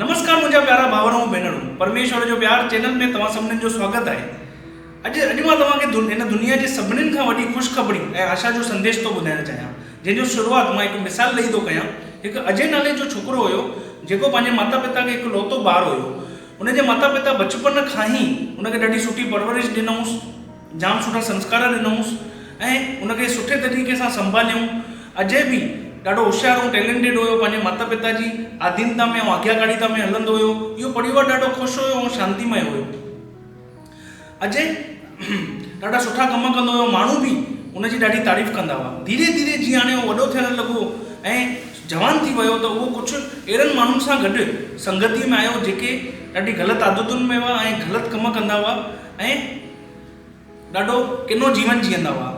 نمسڪار منهنجا پيارا ڀائر ۽ ڀينرون پرميشور جو پيار چينل ۾ توهان سڀنن جو سواگت آهي اڄ اڄ مان توهان کي هن دنيا جي سڀنن کان وڏي خوشخبري ۽ آشا جو سنديش ٿو ٻڌائڻ چاهيان جنهن جو شروعات مان هڪ مثال ڏئي ٿو ڪيان هڪ اجي نالي جو ڇوڪرو هيو جيڪو پنهنجي ماتا پتا کي هڪ لوتو ٻار هيو ان جي ماتا پتا بچپن کان هي ان کي ڏاڍي سٺي پرورش ڏنائونس جام سٺا سنسڪار ڏنائونس ۽ ان کي سٺي طريقي سان سنڀاليائون. اجي به ڏاڍو هوشيار ۽ ٽيلينٽيڊ هيو. پنهنجي مات پتا جي آڌينتا ۾ ۽ آگياڪاريتا ۾ هلندو هيو. اهو پريوار ڏاڍو خوش هيو ۽ شانتيمئي هيو. اجي ڏاڍا سٺا ڪم ڪندو هيو. ماڻهو به ان جي ڏاڍي تعريف ڪندا هئا. ڌيري ڌيري جيئن هاڻي اهو وڏو ٿيڻ لڳو ۽ جوان ٿي ويو ته اهو ڪجهه اهڙن ماڻهن سان گڏ سنگتيء ۾ آيو جيڪي ڏاڍي غلط عادتن ۾ هئا ۽ غلط ڪم ڪندا هئا. ۽ ڏاڍو ڪنو جيون جيئندا هئا.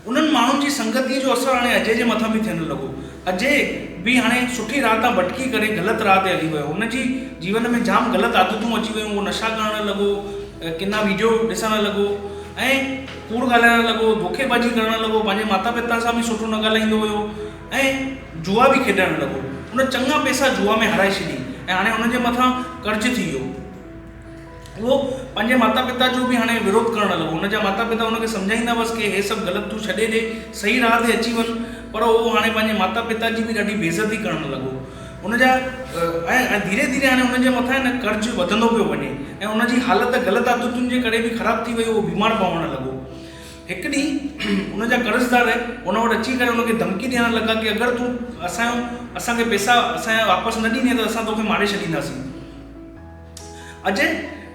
انهن ماڻهن جي سنگتيء جو اثر هاڻي اجي جي مٿان به ٿيڻ لڳو. اجي به هاڻي سٺي راهه تان ڀٽڪي ڪري غلط راهه تي هلي ويو. هن جي جيون ۾ جام غلط عادتون اچي ويون. هو نشا ڪرڻ لڳو، ڪنا ويڊيو ڏسڻ لڳو ۽ ڪوڙ ڳالهائڻ لڳو، ڌوڪيبازي ڪرڻ لڳو، پنهنجي ماتا پتا سان به سٺو نه ڳالهائيندو هيو ۽ جوا به کيڏڻ لڳو. هن چڱا پئسا جوا ۾ هارائي ڇڏي ۽ هاڻي هن جي مٿان قرض ٿي ويو. اهو پنهنجي ماتا پتا جو به هاڻي وروڌ ڪرڻ لڳو. هن جا ماتا پتا هن کي سمجهائيندا هئس ڪي هي سڀ غلط تون ڇڏي ڏي صحيح راهه تي اچي وڃ پر اهو هاڻي پنهنجي ماتا پتا جي به ڏاڍي بيعزتي ڪرڻ لڳو. هن جا ۽ ڌيري ڌيري هاڻي هن جي مٿان نه قرض وڌندو پيو وڃي ۽ هن جي حالت غلط عادتن جي ڪري به خراب ٿي وئي اهو بيمار پوڻ لڳو. هڪ ڏينهن هن جا قرضدار هن وٽ اچي ڪري هن کي ڌمڪي ڏيڻ لڳا ڪي اگر تون اسان جو اسان کي پيسا اسان جا واپس نه ڏيني ته اسان توکي ماري ڇڏينداسين. اجي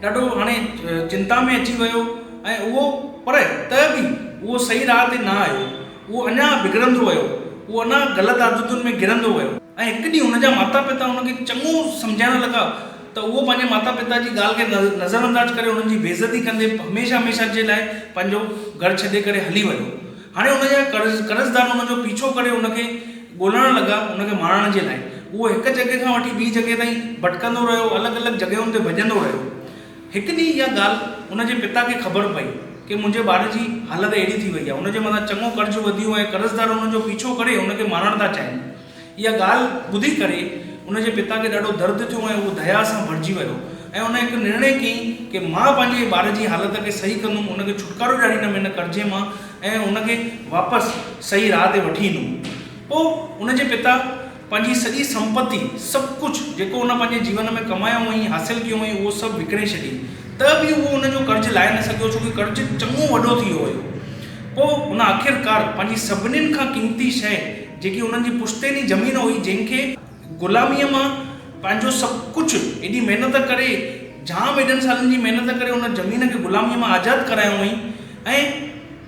ڏاڍو هاڻي چنتا ۾ اچي ويو ۽ اهو پر ته به اهو صحيح راهه تي نه آيو. اهو اڃا بگڙندو ويو. اهو اڃا غلط عادتن ۾ گرندو ويو. ۽ هڪ ڏينهن هن جا ماتا پتا هن کي چڱو سمجهائڻ لڳا ته اهو پنهنجي ماتا پتا جي ڳالهه کي نظرانداز ڪري انهن جي بي عزتي ڪندي هميشه هميشه جي لاء پنهنجو گهر ڇڏي ڪري هلي ويو. هاڻي ان جا قرضدار ان جو پيڇو ڪري ان کي ڳولڻ لڳا، ان کي مارڻ جي لاء. اهو هڪ جڳهه کان وٺي ٻي جڳهه تائين ڀٽڪندو رهيو، الڳ الڳ جڳهين تي ڀڄندو رهيو. هڪ ڏينهن اها ڳالهه ان جي پتا کي خبر پئي ڪي منهنجي ٻار جي حالت اهڙي ٿي وئي آهي، ان جي مٿان چڱو قرض وڌيو ۽ قرضدار ان جو پيڇو ڪري ان کي مارڻ ٿا چاهين. اها ڳالهه ٻڌي ڪري ان جي پتا کي ڏاڍو درد ٿيو ۽ هو ديا سان ڀرجي ويو ۽ ان هڪ نرڻي ڪئي ڪي مان پنهنجي ٻار جي حالت کي صحيح ڪندم ان کي ڇوٽڪارو ڏياريندم هن قرضي مان ۽ ان کي واپس صحيح راهه تي وٺي ايندم پوء ان جي پتا پنهنجي سڄي سمپتي سڀ ڪجهه جيڪو ان پنهنجي جيون ۾ ڪمايو هئائين حاصل ڪيو هئائين اهو سڀ وڪڻي ڇڏي ته به اهو ان جو قرض لاهي نه سگهيو ڇو ڪي قرض چڱو وڏو ٿي ويو هيو پوء هن آخرڪار پنهنجي سڀنين کان قيمتي شيء جيڪي انهن جي پشتيني زمين هئي جنهن کي غلاميء مان پنهنجو سڀ ڪجهه ايڏي محنت ڪري جام ايڏن سالن جي محنت ڪري ان زمين کي غلاميء مان آزاد ڪرايو هئائين ۽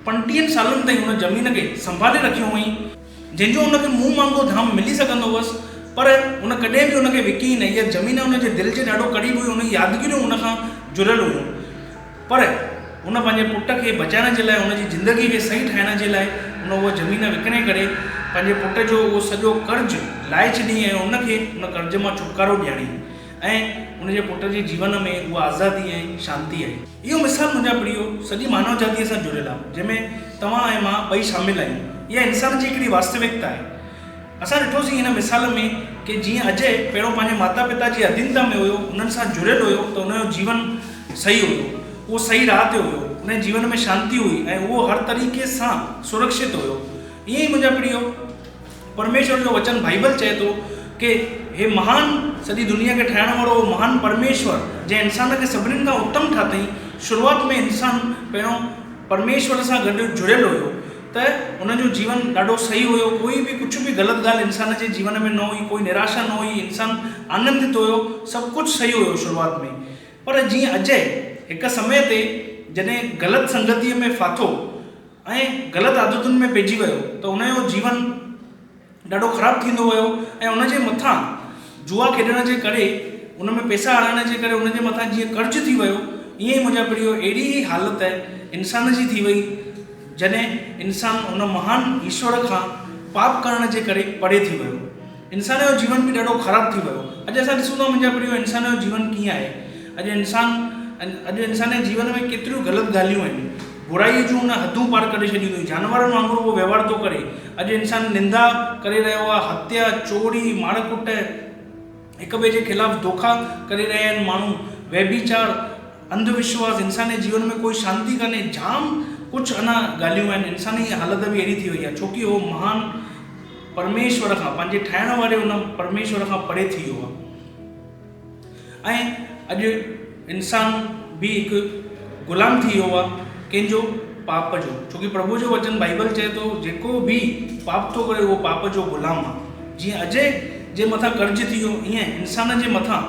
پنٽيهن سالن تائين ان زمين کي سنڀالي رکيو هئائين جنهن جو ان کي منهن مانگو ڌام ملي سگهندو هوس پر هن ڪڏهن به ان کي وڪي نه اها زمين ان جي دل جي ڏاڍو قريب هئي ان جي يادگيريون ان کان جڙيل هيون. پر هن پنهنجي پٽ کي بچائڻ جي لاء، هن جي زندگيء کي صحيح ٺاهڻ جي لاء هن اها زمين وڪڻي ڪري پنهنجي پٽ جو اهو سڄو قرض لاهي ڇڏيائين ۽ هن کي ان قرض مان ڇوٽڪارو ڏياريائين ۽ هن جي پٽ جي جيون ۾ اها آزادي ۽ شانتي آئي. اهو مثال منهنجا پريو سڄي مانو جاتيء سان جڙيل آهي، جنهن ۾ توهان ۽ مان ٻئي شامل آهيون. اها انسان جي هڪڙي واستوڪتا آهي. اسان ڏٺوسين هن مثال ۾ ڪي جيئن اجي پهريون پنهنجي ماتا پتا جي اڌينتا ۾ هيو انهن سان جڙيل هيو ته ان جو جيون صحيح هيو اهو صحيح راهه تي هيو ان جي جيون ۾ شانتي هئي ۽ اهو هر طريقي سان سرڪشت هيو ائين ئي منهنجا پريو پرميشور جو وچن بائيبل چئي ٿو ڪي هي مهان سڄي دنيا کي ٺاهڻ وارو اهو مهان پرميشور جنهن انسان کي سڀنين کان اتم ٺاتئين شروعات ۾ انسان پهريون پرميشور سان گڏ جڙيل هيو ته هن جو جيون ڏاڍو صحيح هيو، ڪوئي به ڪجهه به غلط ڳالهه انسان جي جيون ۾ نه هئي، ڪوئي نراشا نه هئي، انسان آنندت هيو، سڀ ڪجهه صحيح هيو شروعات ۾ ئي. پر جيئن اجئه هڪ سمي تي جڏهن غلط سنگتيء ۾ ڦاٿو ۽ غلط عادتن ۾ پئجي ويو ته هن جو جيون، ڏاڍو خراب ٿيندو ويو ۽ ان جي مٿان جوا کيڏڻ جي ڪري ان ۾ پيسا هڻڻ جي ڪري ان جي مٿان جيئن قرض ٿي ويو ائين ئي منهنجا پڙهيو اهڙي هي حالت انسان جي ٿي وئي جڏهن انسان ان مهان ايشور کان پاپ ڪرڻ جي ڪري پري ٿي ويو انسان جو جيون به ڏاڍو خراب ٿي ويو اڄ اسان ڏسون ٿا منهنجا پڙهيو انسان جو جيون ڪيئن آهي اڄ انسان اڄ انسان جي جيون ۾ ڪيتريون غلط ڳالهيون آهن برائيء جون هن حدون پار ڪري ڇڏيون اٿئي. جانورن وانگر اهو وهنوار ٿو ڪري. اڄ انسان نندا ڪري رهيو آهي، هتيا، چوري، مار ڪٽ، هڪ ٻئي جي خلاف دوکا ڪري رهيا آهن ماڻهو، ويڀيچار، انڌ وشواس، انساني جيون ۾ ڪوئي شانتي ڪانهي، جام ڪجهه اڃا ڳالهيون آهن. انساني اها حالت به اهڙي ٿي وئي آهي، ڇو ڪي اهو مهان پرميشور کان، پنهنجي ٺاهڻ واري ان پرميشور کان پري ٿي ويو آهي. ۽ اڄ انسان به هڪ غلام ٿي ويو آهي ڪنهن جو پاپ جو ڇو ڪي پرڀو جو وچن بائيبل چئي ٿو جيڪو به پاپ ٿو ڪري اهو پاپ جو غلام آهي جيئن اجي جي مٿان قرض ٿي ويو ائين انسان جي مٿان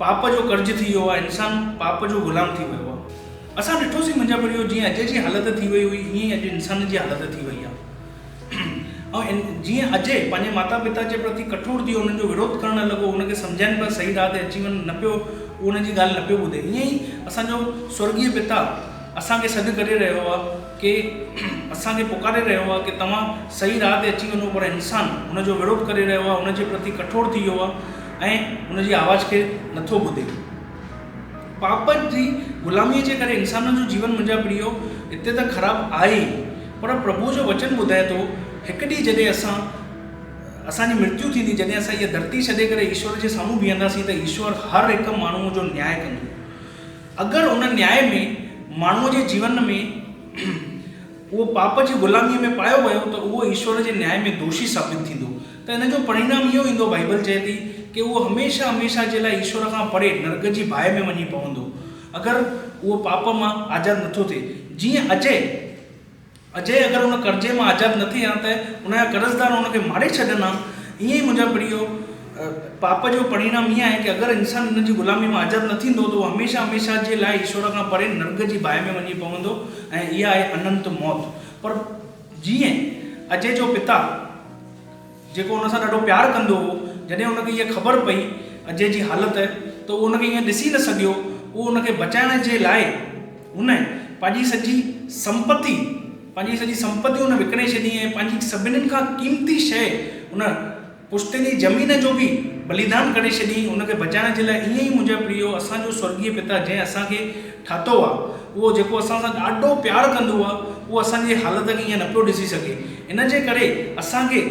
پاپ جو قرض ٿي ويو آهي انسان پاپ جو غلام ٿي ويو آهي اسان ڏٺوسين منهنجا پريو جيئن اجي جي حالت ٿي وئي هئي ائين اڄ انسان جي حالت ٿي وئي آهي ۽ جيئن اجي پنهنجي ماتا پتا جي پرتي ڪٺور ٿي انهن جو وروڌ ڪرڻ لڳو انهن کي سمجهائين پر صحيح راهه تي اچي وڃن نه پيو هو انهن جي ڳالهه نه پيو ٻڌي ائين ئي اسان جو سورڳيه پتا اسان کي سڏ ڪري رهيو آهي ڪي اسان کي پڪاري رهيو آهي ڪي توهان صحيح راهه تي اچي وڃو پر انسان هن جو وروڌ ڪري رهيو آهي هن جي پرتي ڪٺور ٿي ويو آهي ۽ هن جي آواز کي نٿو ٻڌي پاپ جي غلاميء جي ڪري انسانن جو جيون منهنجا پريو هتي ته خراب آهي ئي پر پرڀوء جو وچن ٻڌائي ٿو هڪ ڏينهن جڏهن اسان اسان جي مرتيو ٿيندي جڏهن اسان هيء ڌرتي ڇڏي ڪري ايشور جي سامهون بيهنداسين ته ايشور هر هڪ ماڻهوء جو نياء ڪندو اگر ان نياء ۾ ماڻهوء جي جيون ۾ اهو پاپ جي غلاميء ۾ پايو ويو ته اهو ايشور جي نياء ۾ دوشي ثابت ٿيندو ته ان جو پريڻام اهو ايندو، بائيبل چئي ٿي ڪي اهو هميشه هميشه جي لاء ايشور کان پري نرڪ جي باهه ۾ وڃي پوندو اگر اهو پاپ مان آزاد نٿو ٿئي جيئن اجي اجي اگر ان قرضي مان آزاد نه ٿئي ها ته ان جا قرضدار ان کي ماري ڇڏن ها ائين ئي منهنجا پريو پاپ جو پريڻام اهو آهي ڪي اگر انسان ان جي غلامي مان آزاد نه ٿيندو ته اهو هميشه هميشه جي لاء ايشور کان پري نرڪ جي باهه ۾ وڃي پوندو ۽ اها آهي اننت موت پر جيئن اجي جو پتا جيڪو ان سان ڏاڍو پيار ڪندو هو جڏهن ان کي اها خبر پئي اجي جي حالت ته اهو ان کي ايئن ڏسي نه سگهيو اهو ان کي بچائڻ جي لاء هن پنهنجي سڄي سمپتي پنهنجي سڄي سمپتي هن وڪڻي ڇڏي ۽ پنهنجي سڀنين کان قيمتي شيء هن پشتيني زمين جو به بليدان ڪري ڇڏيئين ان کي بچائڻ جي لاء ائين ئي منهنجا پريو اسان جو سورڳيه پتا جنهن اسان کي ٺاتو آ اهو جيڪو اسان سان ڏاڍو پيار ڪندو آ اهو اسان جي حالت کي ائين نه پيو ڏسي سگهي ان جي ڪري اسان کي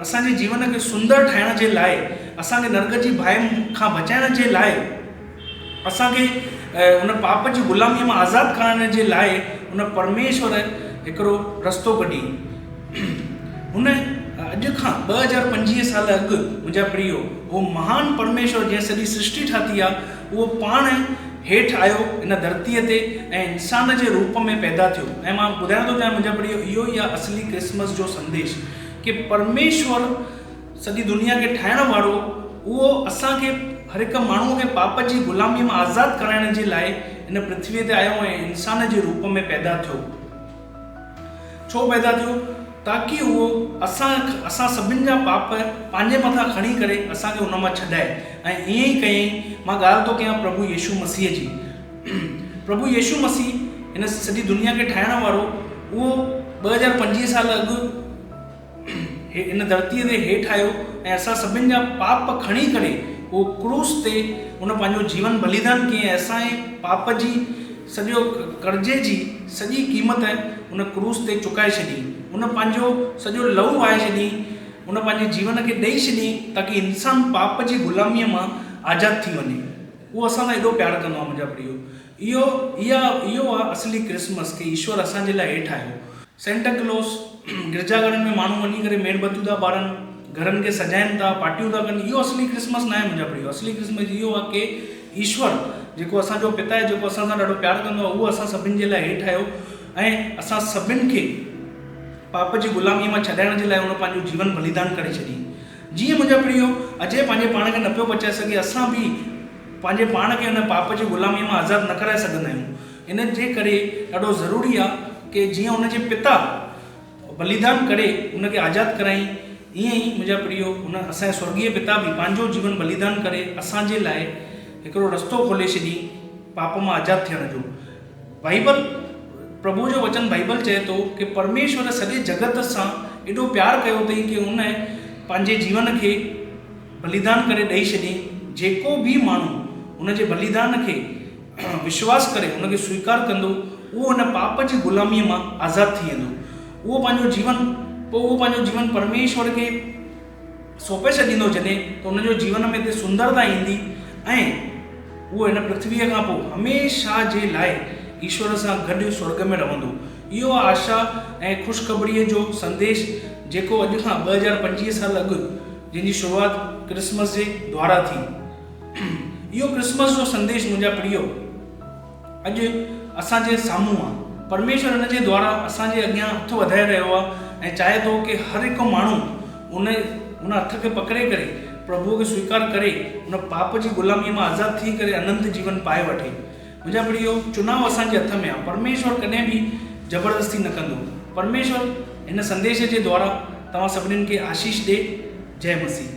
اسان جي جيون کي سندر ٺاهڻ جي لاء اسان کي نرڳ جي باهه کان بچائڻ جي لاء اسان کي ان پاپ جي غلاميء مان آزاد ڪرائڻ جي لاء ان پرميشور هڪڙو رستو ڪڍي. هن اڄ کان ٻه هزار پنجيهه سال اڳ منهنجا پريو اهو مهان پرميشور جنهن سڄي سرشٽي ٺاهتي آ اهو پاڻ هيٺ آيو هن ڌرتيء تي ۽ انسان جي روپ ۾ پيدا ٿيو ۽ مان ٻڌائڻ ٿو چاهيان منهنجا پريو اهو ئي آ اصلي ڪرسمس جو سنديش ڪي پرميشور سڄي دنيا کي ٺاهڻ وارو اهو اسان کي هر هڪ ماڻهوء کي پاپ جي غلاميء مان آزاد ڪرائڻ جي لاء هن پرٿويء تي آيو ۽ انسان جي روپ ۾ پيدا ٿيو. ڇو پيدا ٿيو؟ تاڪي اهو اسان اسان سڀن جا پاپ پنهنجي مٿان کڻي ڪري اسان کي ان مان ڇڏائي ۽ ائين ئي ڪيائين مان ڳالهه ٿو ڪيان پرڀو يسوع مسيح جي. پرڀو يسوع مسيح هن سڄي دنيا کي ٺاهڻ وارو اهو ٻه هزار پنجويهه سال اڳ، هي ان ڌرتيء تي هيٺ آيو ۽ اسان سڀن جا پاپ کڻي ڪري هو ڪروس تي هن پنهنجو جيون بليدان ڪيئي ۽ اسان جي پاپ جي سڄو قرضي جي سڄي قيمت هن ڪروس تي چڪائي ڇڏي. هن پنهنجو سڄو لهو وهائي ڇڏي. هن پنهنجي جيون کي ڏئي ڇڏي تاڪي انسان پاپ جي غلاميء مان آزاد ٿي وڃي. هو اسان سان ايڏو پيار ڪندو آهي منهنجا پريو. اهو اها اهو آهي اصلي ڪرسمس ڪي ايشور اسان جي لاء هيٺ آيو. سينٽا ڪلوس، گرجا گهرن ۾ ماڻهو وڃي ڪري ميڻ بتيون ٿا ٻارن، گهرن کي سجائين ٿا، پارٽيون ٿا ڪن، اهو اصلي ڪرسمس ناهي منهنجا پريو، اصلي ڪرسمس اهو آهي ڪي ايشور جيڪو اسان جو پتا آهي جيڪو اسان سان ڏاڍو پيار ڪندو آهي اهو اسان سڀن جي لاء هيٺ آيو ۽ اسان سڀن کي پاپ جي غلامي مان ڇڏائڻ جي لاء هن پنهنجو جيون بليدان ڪري ڇڏي جيئن منهنجا پريو اجي پنهنجي پاڻ کي نه پيو بچائي سگهي اسان به پنهنجي پاڻ کي هن پاپ جي غلامي مان آزاد نه ڪرائي سگهندا آهيون. ان جي ڪري ڏاڍو ضروري آ ڪي جيئن ان جي پتا بليدان ڪري ان کي آزاد ڪرايئين ايئن ئي منهنجا پريو ان اسان جي سورڳيه پتا به پنهنجو جيون بليدان ڪري اسان جي لاء هڪڙو رستو کولي ڇڏيئين پاپ مان آزاد ٿيڻ جو بائيبل پرڀو جو وچن بائيبل چئي ٿو ڪي پرميشور سڄي جڳت سان ايڏو پيار ڪيو اٿئي ڪي ان پنهنجي جيون کي بليدان ڪري ڏئي ڇڏيئين جيڪو به ماڻهو ان جي بليدان کي وشواس ڪري ان کي سويڪار ڪندو، اهو هن پاپ جي غلاميء مان آزاد ٿي ويندو. اهو پنهنجو جيون، پوء اهو پنهنجو جيون پرميشور کي سونپي ڇڏيندو، جڏهن ته ان جو جيون ۾ هتي سندرتا ايندي ۽ اهو هن پرٿويء کان پوء هميشه جي لاء ايشور سان گڏ سورڳ ۾ رهندو. اهو آهي آشا ۽ خوشخبريء جو سنديش، جيڪو اڄ کان ٻه هزار پنجويهه سال اڳ، جنهن جي شروعات ڪرسمس جي دوارا ٿي، اهو ڪرسمس جو سنديش منهنجا پريو اڄ اسان جي سامهون آ پرميشور ان جي دواران اسان جي اڳيان هٿ وڌائي رهيو آ ۽ چاهي ٿو ڪي هر هڪ ماڻهو ان ان هٿ کي پڪڙي ڪري پرڀوء کي سويڪار ڪري ان پاپ جي غلامي مان آزاد ٿي ڪري اننت جيون پائي وٺي منهنجا پريو چناو اسان جي هٿ ۾ آ پرميشور ڪڏهن به زبردستي نه ڪندو پرميشور هن سنديش جي دواران توهان سڀنين کي آشيش ڏي جئه مسيح.